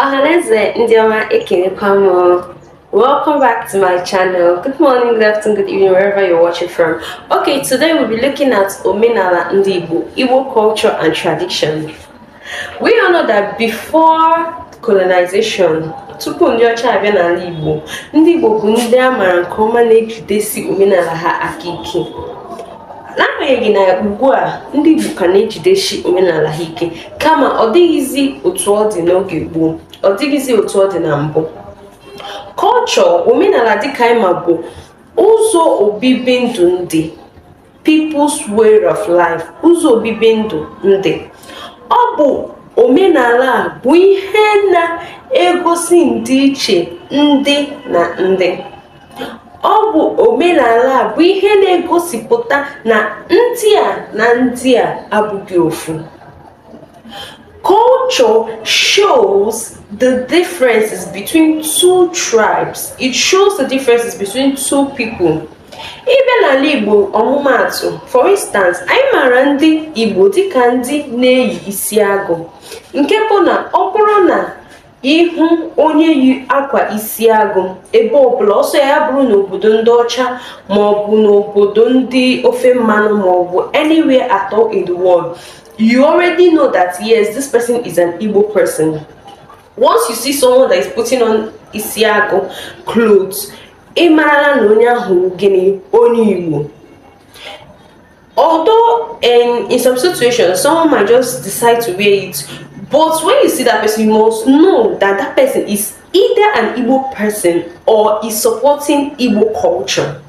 Ọhaneze ndị ọma ekelekwa m Welcome back to my channel. Good morning, good afternoon, good evening, wherever you're watching from. Okay, today we'll be looking at omenala ndị Igbo, Igbo culture and tradition. We all know that before colonization, tupu ndị ọcha abịa n'ala Igbo, ndị Igbo bụ ndị a maara nke ọma na-ejidesi omenala ha aka ike. n'agbanyeghị na ugbu a ndị Igbo ka na-ejidesi omenala ha ike kama ọ dịghịzi otu ọ dị n'oge gboo ọ dịghịzi otu ọ dị na mbụ culture omenala dịka anyị ma bụ ụzọ obibi ndụ ndị people's way of life ụzọ obibi ndụ ndị ọ bụ omenala bụ ihe na-egosi ndịiche ndị na ndị ọ bụ omenala a bụ ihe na-egosipụta na ndị a na ndị a abụghị ofu culture shows the differences between two tribes it shows the differences between two people ị bịa n'ala Igbo ọmụmaatụ for instance anyị maara ndị igbo dịka ndị na-eyi isi agụ nke bụ na ọ bụrụ na ị hụ onye yi akwa isi agụ ebe ọbụla ọ sọ ya bụrụ n'obodo ndị ọcha ma ọ bụ n'obodo ndị ofe mmanụ ma ọ bụ anywhere at all in the world you already know that yes this person is an Igbo person once you see someone that is putting on isi agụ clothes ị marala na onye ahụ gịnị onye Igbo Although in, in some situations, someone might just decide to wear it, but when you see that person, you must know that that person is either an Igbo person or is supporting Igbo culture.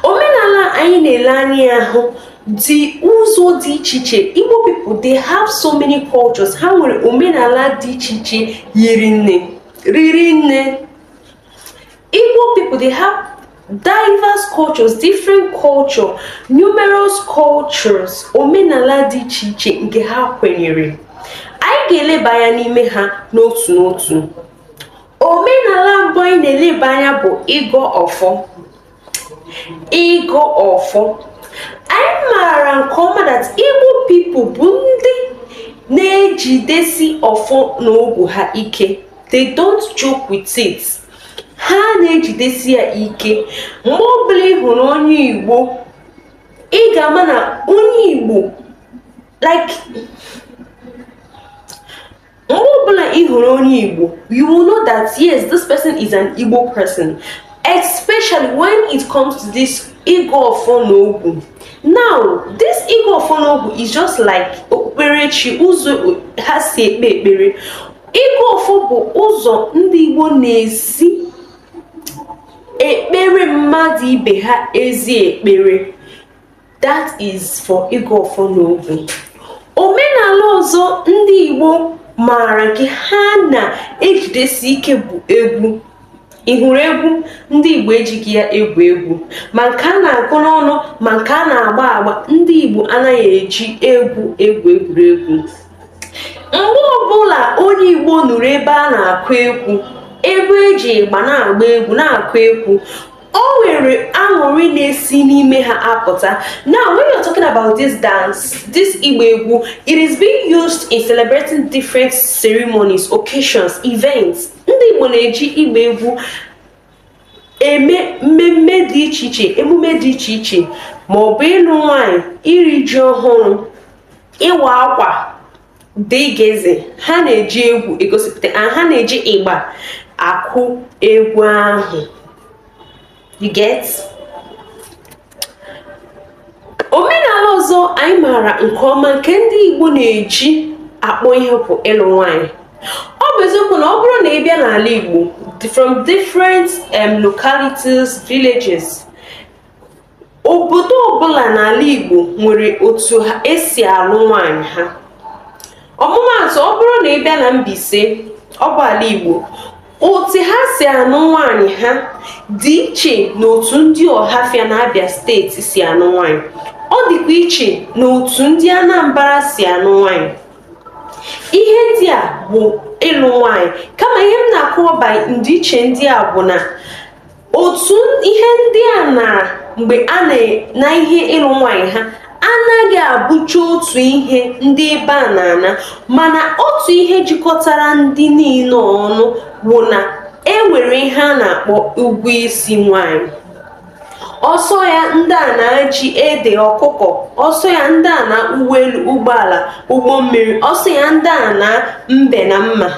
Omenala anyị na-ele anya ahụ dị ụzọ dị iche iche Igbo people they have so many cultures ha nwere omenala dị iche iche hiri nne riri nne Igbo people they have diverse cultures different culture numerous cultures omenala dị iche iche nke ha kwenyere anyị ga-eleba anya n'ime ha n'otu n'otu omenala mbụ anyị na-eleba anya bụ ịgọ ọfọ ịgọ ọfọ anyị maara nke ọma that Igbo people bụ ndị na-ejidesi ọfọ na ogu ha ike they don't joke with it ha na-ejidesi ya ike mgbe ọbụla ị hụrụ onye Igbo ị ga-ama na onye Igbo like mgbe ọbụla ị hụrụ onye Igbo you will know that yes this person is an Igbo person especially when it comes to this ịgọ ọfọ na ogu now this ịgọ ọfọ na ogu is just like okpukperechi ụzọ ha si ekpe ekpere ịgọ ọfọ bụ ụzọ ndị Igbo na-esi ekpere mmadụ ibe ha ezi ekpere that is for ịgọ ọfọ na ogu omenala ọzọ ndị Igbo maara nke ha na-ejidesi ike bụ egwu ị hụrụ egwu ndị Igbo ejighị ya egwu egwu ma nke a na-agụ n'ọnụ ma nke a na-agba agba ndị Igbo anaghị eji egwu egwu egwuregwu mgbe ọbụla onye Igbo nụrụ ebe a na-akụ egwu ebe e ji ịgba na-agba egwu na-akụ egwu o nwere aṅụrị na-esi n'ime ha apụta now when you're talking about this dance this ịgba egwu it is being used in celebrating different ceremonies occasions events ndị igbo na-eji ịgba egwu eme mmemme dị iche iche emume dị iche iche ma ọ bụ ịlụ nwanyị iri ji ọhụrụ ịwa akwa dịgịzị ha na-eji egwu egosipụta ha na-eji ịgba akụ egwu ahụ you get omenala ọzọ anyị maara nke ọma nke ndị Igbo na-eji akpọ ihe bụ ịlụ nwanyị ọ bụ eziokwu na ọ bụrụ na ị bịa n'ala Igbo from different um, localities villages obodo ọbụla n'ala Igbo nwere otu esi alụ nwaanyị ha ọmụmaatụ ọ bụrụ na ị bịa na Mbaise ọ bụ ala Igbo otu ha si anụ nwaanyị ha dị iche na otu ndị Ọhafịa na Abia steeti si anụ nwaanyị ọ dịkwa iche na otu ndị Anambra si anụ nwaanyị ihe ndị a bụ ịlụ nwaanyị kama ihe m na-akọwa ndịiche ndị a bụ na otu ihe ndị a na mgbe a na ihe ịlụ nwaanyị ha anaghị abụcha otu ihe ndị ebe a na-ana mana otu ihe jikọtara ndị niile ọnụ bụ na e nwere ihe a na-akpọ ụgwọ isi nwanyị ọ sọ ya ndị a naa ji ede ọkụkọ ọ sọ ya ndị a naa ụgbọelu ụgbọala ụgbọ mmiri ọ sọ ya ndị a naa mbe na mma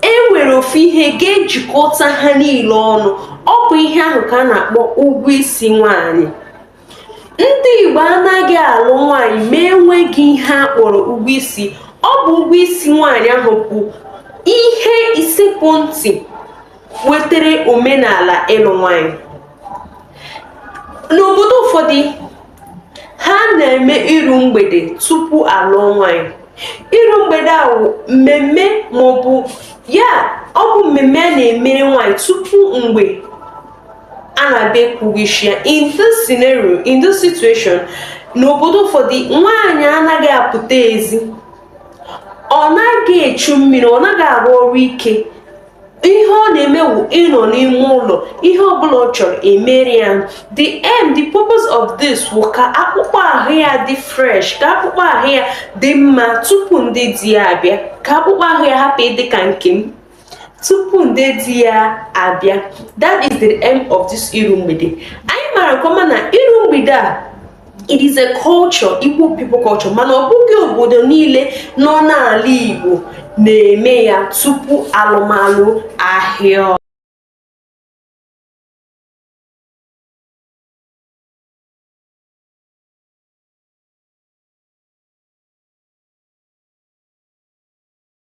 e nwere ofu ihe ga-ejikọta ha niile ọnụ ọ bụ ihe ahụ ka a na-akpọ ụgwọ isi nwaanyị ndị Igbo anaghị alụ nwaanyị ma enweghị ihe a kpọrọ ụgwọ isi ọ bụ ụgwọ isi nwaanyị ahụ bụ ihe isekpu ntị wetara omenala ịlụ nwaanyị n'obodo ụfọdụ ha na-eme iru mgbede tupu a lụọ nwanyị iru mgbede a wụ mmemme maọbụ ya ọ bụ mmemme a na-emere nwanyị tupu mgbe a na-abịa akwụ ụgwọ isi ya in this scenario in this situation n'obodo ụfọdụ nwaanyị anaghị apụta ezi ọ naghị echu mmiri ọ naghị arụ ọrụ ike ihe ọ na-eme wụ ịnọ n'ime ụlọ ihe ọbụla ọ chọrọ e mere ya the aim the purpose of this wụ ka akpụkpọ ahụ ya dị fresh ka akpụkpọ ahụ ya dị mma tupu ndị di ya abịa ka akpụkpọ ahụ ya hapụ ịdị ka nke m tupu ndị di ya abịa that is the aim of this iru mgbede anyị mara nke ọma na iru mgbede a it is a culture Igbo people culture mana ọ bụghị obodo niile nọ n'ala Igbo na-eme ya tupu alụmalụ ahịa